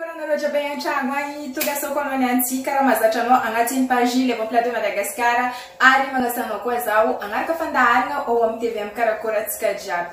Koa nareo jiaby any antragno any, tonga sao koa anao ny antsika raha mahazatra anao agnatin'ny page Levant Plateau Madagascar ary magnasa anao koa zaho hagnaraka fandaharagna ao amin'ny TV amin'ny karakôra antsika jiaby.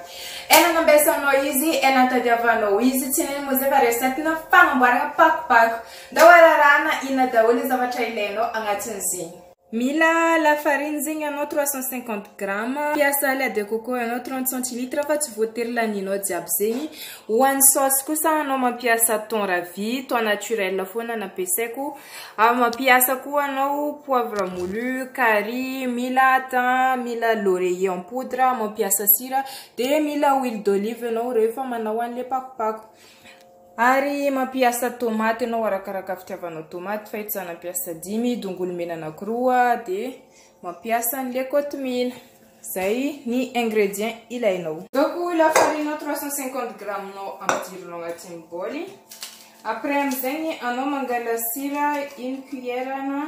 Ela nambesanao izy, ela nitadiavanao izy, tsy nino moa zay fa recette-na fagnamboaragna pakopako. Ndao ararahagna inona daholo ny zavatra ilainao agnatin'izegny. Mila lafarine zegny ianao trois cent cinquante grammes, mpiasa lait de coco ianao trente centilitres fa tsy voatery lanianao jiaby zegny, ho an'ny saosy kosa anao mampiasa thon ravi, thon naturel foana no ampiasaiko, mampiasa koa anao poivre molu, carry, mila thym, mila laurier en poudre, mampiasa sira, dia mila huile d'olive ianao rehefa manao an'ilay pakopako. Ary mampiasa tomaty ianao arakaraka fitiavanao tomaty fa eto za nampiasa dimy, dongolo mena anakiroa dia mampiasa an'ilay kotomila. Zay ny ingrédients ilainao. Ataoko lafarina 350 grammes nao ampidirina ao anatin'ny bol. Après amin'izay ny anao mangala sira une cuillère na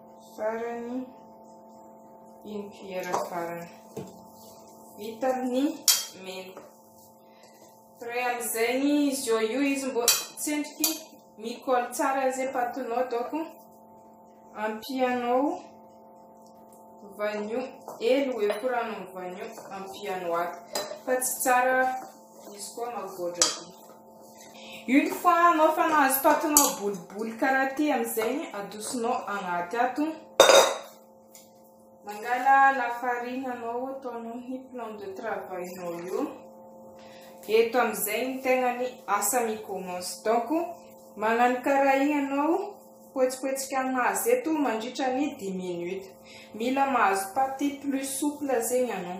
Farany, une cuillère farany. Vita ny menaka. Ray amin'izay ny izy eo io izy mbo tsendriky mikol tsara izay patinao doko. Ampianao vanio, elo ekorano amin'ny vanio ampianao ato. Fa tsy tsara Izy koa magoatra be. Une fois anao fa nahazo patinao boliboly karaha ty amin'izegny adosonao agnaty ato. Mangala lafarine anao ataonao ny plan de travail nao io. Eto amin'izay ny tegnany asa mi-commence. Donc magnano karaha igny anao poetsipotsikà anazy eto mandritra ny dix minutes. Mila mahazo paty plus souple zegny anao.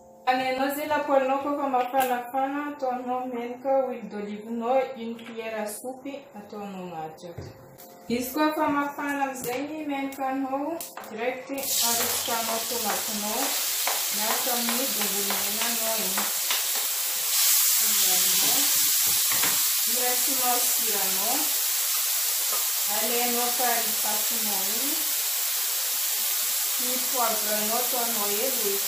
Any anao zay la poilon koa fa mafanafana ataonao menaka huile d'olive nao une cuillère à soupe ataonao anaty ato. Izy koa fa mafana amizay ny menaka nao direct arotsakanao tomaty nao miaraka amin'ny dongolo mena nao iny. Azarinao. Irasinao siranao. Alainao kary fasinao iny. Ny poivre nao ataonao hely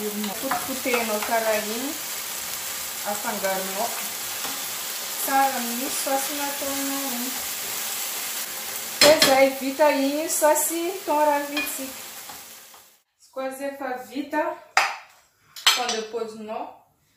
Voanjobory nopotipotehinao karaha iny, afangaronao tsara amin'ny saosy nataonao iny. Dia izay, vita iny io saosy thon ravitsika. Izy koa rehefa vita, thon de pozinao,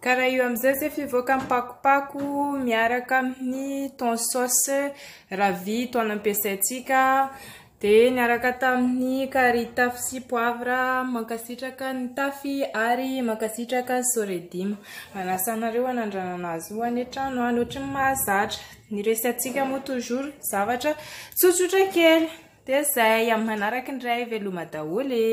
Ka raha io amin'izay zay fivoaka mipakopako miaraka amin'ny thon sauce ravia thon nampiasaintsika dia niaraka tamin'ny carry taf sy poivre mankasitraka ny tafy ary mankasitraka soredima manasa anareo hanandranana azy io any an-trano any ohatry ny mahazatra ny resatsika moa toujours zavatra tsotsotra kely dia zay amin'ny manaraka indray veloma daholo e